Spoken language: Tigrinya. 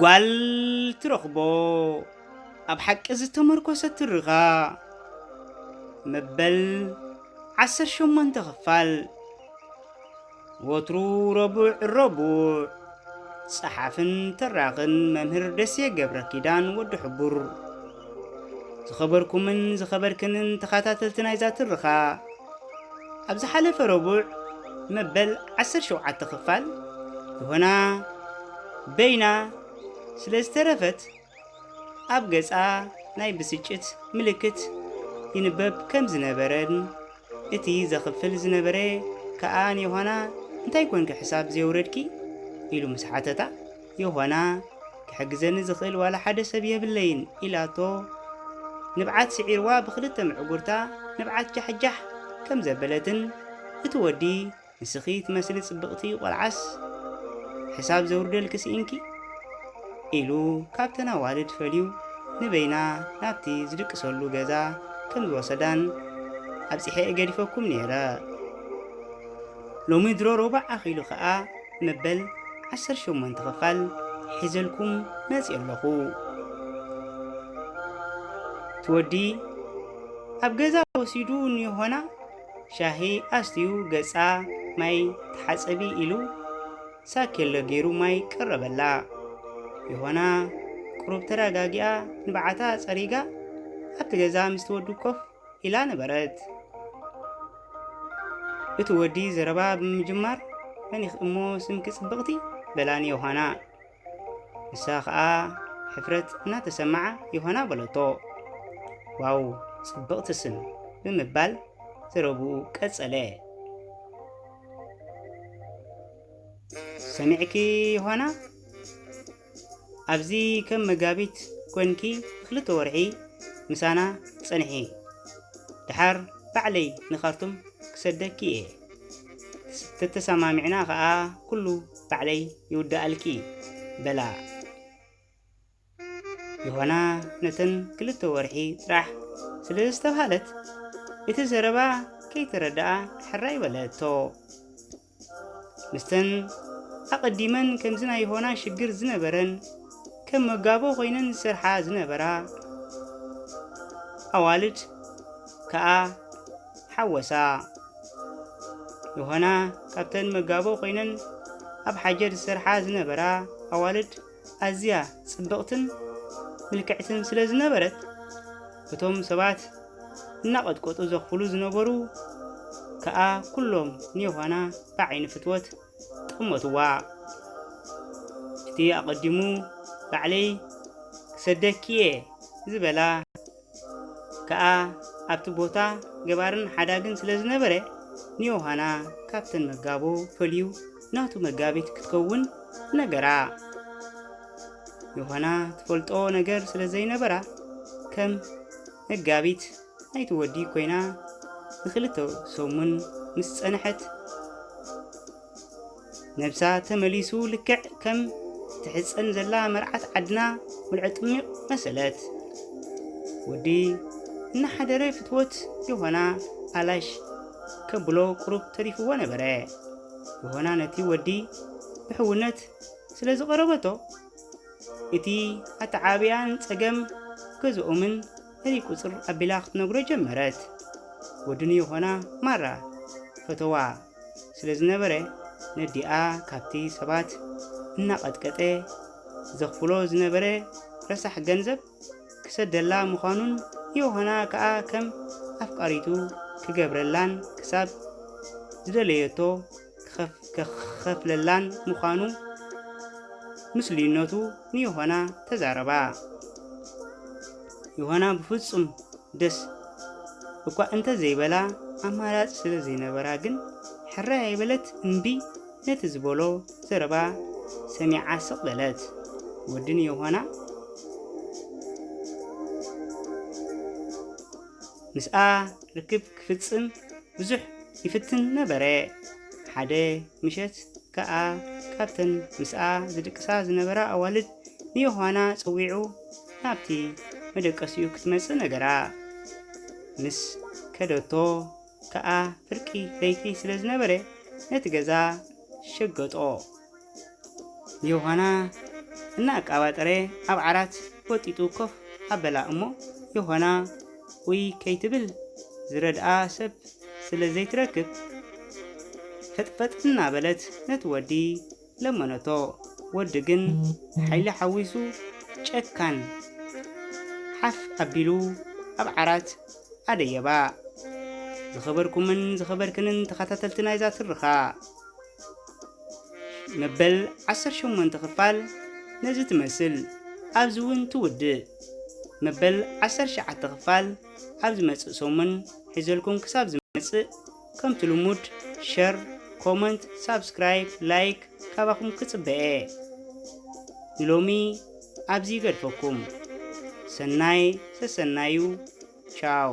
ጓል ትረኽቦ ኣብ ሓቂ ዝተመርኮሰ ትርኻ መበል ዓሰር ሸሞንተ ክፋል ወትሩ ረቡዕ ረቡዕ ጸሓፍን ተራኽን መምህር ደሴ ገብረ ኪዳን ወዲ ሕቡር ዝኸበርኩምን ዝኸበርክንን ተኸታተልቲ ናይዛ ትርኻ ኣብ ዝሓለፈ ረቡዕ መበል 17 ክፋል ዮሆና በይና ስለ ዝተረፈት ኣብ ገጻ ናይ ብስጭት ምልክት ይንበብ ከም ዝነበረን እቲ ዘኽፍል ዝነበረ ከኣ ንዮሃና እንታይ ኮንኪ ሕሳብ ዘውረድኪ ኢሉ ምስ ሓተታ ይኾና፣ ክሕግዘኒ ዝኽእል ዋላ ሓደ ሰብ የብለይን ኢላቶ ንብዓት ስዒርዋ ብኽልተ ምዕጉርታ ንብዓት ጃሕጃሕ ከም ዘበለትን እቲ ወዲ ንስኺ ትመስሊ ጽብቕቲ ቆልዓስ ሕሳብ ዘውርደልኪ ስኢንኪ ኢሉ ካብተን ኣዋልድ ፈልዩ ንበይና ናብቲ ዝድቅሰሉ ገዛ ከም ዝወሰዳን ኣብጺሐ እየ ገዲፈኩም ነይረ ሎሚ ድሮ ሮባዕ ኣኺሉ ከኣ መበል ዓሰርተ ሸሞንተ ክፋል ሒዘልኩም መጺእ ኣለኹ ትወዲ ኣብ ገዛ ወሲዱ ንዮሆና ሻሂ ኣስትዩ ገጻ ማይ ተሓጸቢ ኢሉ ሳኬሎ ገይሩ ማይ ቀረበላ ዮሆና ቁሩብ ተረጋጊኣ ንብዓታ ጸሪጋ ኣብቲ ገዛ ምስ ትወዲ ኮፍ ኢላ ነበረት። እቲ ወዲ ዘረባ ብምጅማር መኒኽ እሞ ስምኪ ጽብቕቲ? በላኒ ዮሃና። ንሳ ኸኣ ሕፍረት እናተሰምዓ ዮሃና በለቶ። ዋው ጽብቕቲ ስም ብምባል ዘረብኡ ቀጸለ። ሰሚዕኪ ዮሃና? ኣብዚ ከም መጋቢት ኮንኪ ክልተ ወርሒ ምሳና ጸንሒ ድሓር ባዕለይ ንካርቱም ክሰደኪ እየ ተተሰማሚዕና ከኣ ኩሉ ባዕለይ ይውድኣልኪ በላ ዮሃና ነተን ክልተ ወርሒ ጥራሕ ስለ ዝተብሃለት እቲ ዘረባ ከይተረድኣ ሕራይ በለቶ። ምስተን ኣቐዲመን ከምዚ ናይ ሆና ሽግር ዝነበረን ከም መጋቦ ኮይነን ዝሰርሓ ዝነበራ ኣዋልድ ከኣ ሓወሳ። ዮሃና ካብተን መጋቦ ኮይነን ኣብ ሓጀር ዝሰርሓ ዝነበራ ኣዋልድ ኣዝያ ጽብቕትን ምልክዕትን ስለ ዝነበረት፣ እቶም ሰባት እናቐጥቀጡ ዘኽፍሉ ዝነበሩ ከኣ ኩሎም ንዮሃና ብዓይኒ ፍትወት ጠመቱዋ። እቲ ኣቐዲሙ ባዕለይ ክሰደኪ'የ ዝበላ ከኣ ኣብቲ ቦታ ገባርን ሓዳግን ስለ ዝነበረ ንዮሃና ካብተን መጋቦ ፈልዩ ናቱ መጋቢት ክትከውን ነገራ። ዮሃና ትፈልጦ ነገር ስለ ዘይነበራ ከም መጋቢት ናይቲ ወዲ ኮይና ንክልተ ሰሙን ምስ ጸንሐት ነብሳ ተመሊሱ ልክዕ ከም ትሕፀን ዘላ መርዓት ዓድና ምልዖ ጥሚቕ መሰለት ወዲ እናሓደረ ፍትወት ዮሆና ኣላሽ ከብሎ ቁሩብ ተሪፍዎ ነበረ። ዮሆና ነቲ ወዲ ብሕውነት ስለ ዝቐረበቶ እቲ ኣተዓብያን ጸገም ገዝኦምን እሪ ቁጽር ኣቢላ ክትነግሮ ጀመረት። ወዲ ንዮሆና ማራ ፈተዋ ስለ ዝነበረ ነዲኣ ካብቲ ሰባት እናቐጥቀጠ ዘኽፍሎ ዝነበረ ረሳሕ ገንዘብ ክሰደላ ምዃኑን ዮሃና ከኣ ከም ኣፍቃሪቱ ክገብረላን ክሳብ ዝደለየቶ ክኸፍለላን ምዃኑ ምስሉይነቱ ንዮሃና ተዛረባ። ዮሃና ብፍጹም ደስ እኳ እንተ ዘይበላ ኣማራጺ ስለ ዘይነበራ ግን ሕራይ ኣይበለት እምቢ ነቲ ዝበሎ ዘረባ ሰሚዓ ስቕ በለት። ወዲ ንዮሃና ምስኣ ርክብ ክፍጽም ብዙሕ ይፍትን ነበረ። ሓደ ምሸት ከኣ ካብተን ምስኣ ዝድቅሳ ዝነበራ ኣዋልድ ንዮሃና ጸዊዑ ናብቲ መደቀሲኡ ክትመጽእ ነገራ። ምስ ከደቶ ከኣ ፍርቂ ለይቲ ስለ ዝነበረ ነቲ ገዛ ሸገጦ። ንዮሃና እናኣቃባጠረ ኣብ ዓራት ወጢጡ ኮፍ ኣበላ እሞ ዮሃና ኡይ ከይትብል ዝረድኣ ሰብ ስለ ዘይትረክብ ፈጥፈጥ እናበለት ነቲ ወዲ ለመነቶ። ወዲ ግን ሓይሊ ሓዊሱ ጨካን ሓፍ ኣቢሉ ኣብ ዓራት ኣደየባ። ዝኸበርኩምን ዝኸበርክንን ተኸታተልቲ ናይዛ ትርኻ፣ መበል ዓሰርተ ሸሞንተ ክፋል ነዚ ትመስል ኣብዚ እውን ትውድእ መበል ዓሰርተ ሸዓተ ክፋል ኣብ ዝመጽእ ሰሙን ሒዘልኩም ክሳብ ዝመጽእ ከምቲ ልሙድ ሸር ኮመንት ሳብስክራይብ ላይክ ካባኹም ክጽበየ ንሎሚ ኣብዚ ይገድፈኩም ሰናይ ሰሰናዩ ቻው